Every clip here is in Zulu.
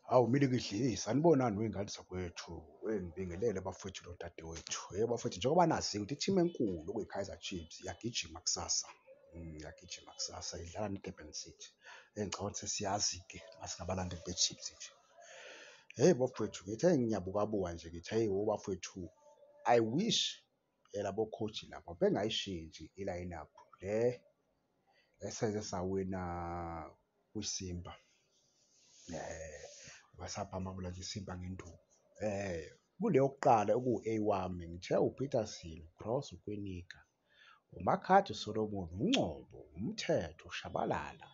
Hawu milikidlisa anibonani wey'ngane zakwethu weh ngibingelele bafwethu nodadewethu. Hheyi bafwethu njengoba nazi ukuthi i-team enkulu okuyi-Kaizer Chiefs iyagijima kusasa iyagijima kusasa idlala ne-Durban City. Eyi ngicabanga ukuthi sesiyazi-ke nasingabalandeli be-Chiefs nje. Hheyi bafwethu ngithi hheyi ngiyabukabuka nje ngithi hheyi wo bafwethu I wish Labo coach laba bengayishintshi i-lineup le eseze sawina kwiSimba basabhamabula nje iSimba ngenduku kule yokuqala okuwu-A wami ngithe uPeterson, uCross, uKwinika, uMakhadzi, uSolomon, uNgcobo, uMthetho, uShabalala,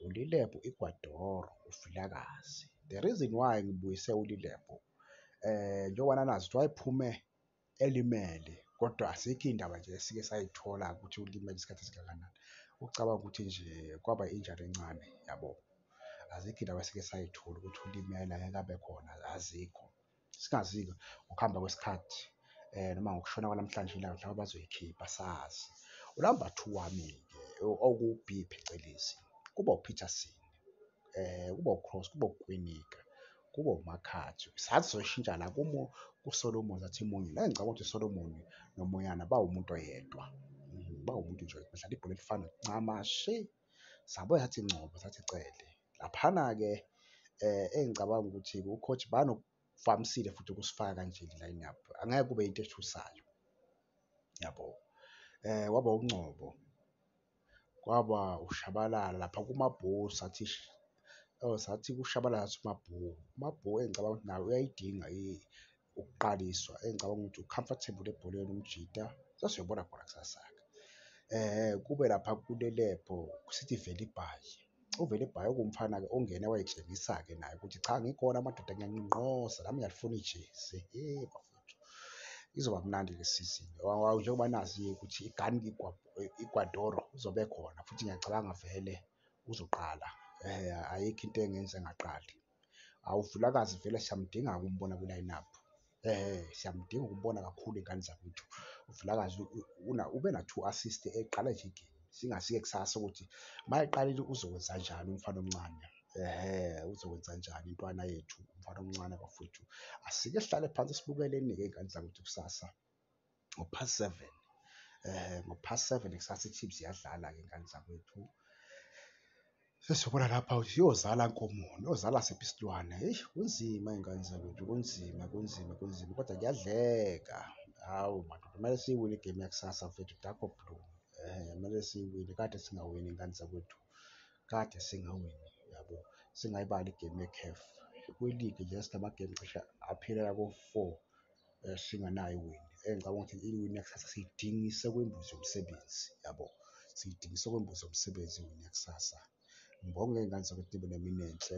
uLilebhu, Igwadoro, uVilakazi. The reason why ngibuyise uLilebhu njengoba nanazi kuthiwa ephume elimele kodwa asikho indaba nje esike sayithola ukuthi ulimele isikhathi esingakanani. Ucabanga ukuthi nje kwaba injury encane yabo. Azikho iy'ndaba esike sayithola ukuthi ulimele angeke abe khona azikho. Singazi-ke ngokuhamba kwesikhathi noma ngokushona kwanamhlanje ilanga mhlawumbe bazoyikhipha asazi. Unamba two wami-ke okuwu-B phecelezi kuba uPeterson kuba uCross kuba uKwinika Kube uMakhathi. Sathi soyishintsha la kumo kuSolomon sathi munye. La ngicabanga ukuthi uSolomon noMoyana bawumuntu oyedwa. Mhm, bawumuntu nje bedlala ibhola elifana ncama shi. Sabuya sathi Ngcobo sathi Cele. Laphana-ke eh engicabanga ukuthi ucoach banokuvamisile futhi ukusifaka kanje i-lineup. Angeke kube into ethusayo. Yabo. Eh waba uNgcobo. kwaba ukushabalala lapha kumabhuku sathi sathi kushabalala sathi umabhuku, umabhuku engicabanga ukuthi naye uyayidinga ukuqaliswa engicabanga ukuthi u-comfortable ebholeni umjita sasiyobona khona kusasa-ke. Kube lapha kulelebhu sithi vele ibhayi. uvele ebhayoka umfana-ke ongene wayetshengisa-ke naye ukuthi cha ngikhona amadoda ngiyanqinqoza nami ngiyalifuna ijezi hey bafowethu izoba mnandi le sizini njengoba nazi-ke ukuthi igani igwadoro uzobe khona futhi ngiyacabanga vele uzoqala um ayikho into engenza engaqali Awu Vilakazi vele siyamdinga ukumbona kwi-line up. Eh siyamdinga ukubona kakhulu ingane zakwethu. UVilakazi una ube na two assist eqala nje igame. Singasike kusasa ukuthi mayeqalile uzokwenza njani umfana omncane. Eh uzokwenza njani intwana yethu umfana omncane bafowethu. Asike sihlale phansi sibukeleni ke ingane zakwethu kusasa. ngo past seven ngo past seven kusasa iChiefs iyadlala ke ngane zakwethu. Sesiyobona lapha ukuthi iyozala nkomo, iyozala siphi isilwane. Eish kunzima iy'ngane zakwethu, kunzima, kunzima, kunzima kodwa kuyadleka. Hawu madoda kumele siyiwine igemu yakusasa mfethu dakho blue. Kumele siyiwine kade singawini iy'ngane zakwethu, kade singawini yabo. Singayibali igemu ye-CAF kwiligi nje sinamagemu cishe aphelela ko-four eh, singanayo iwindi engicabanga ukuthi iwindi yakusasa siyidingise kwembuzi yomsebenzi yabo siyidingise kwembuzi yomsebenzi iwindi yakusasa ngibonge iy'ngane zakwethu nibe nemini enhle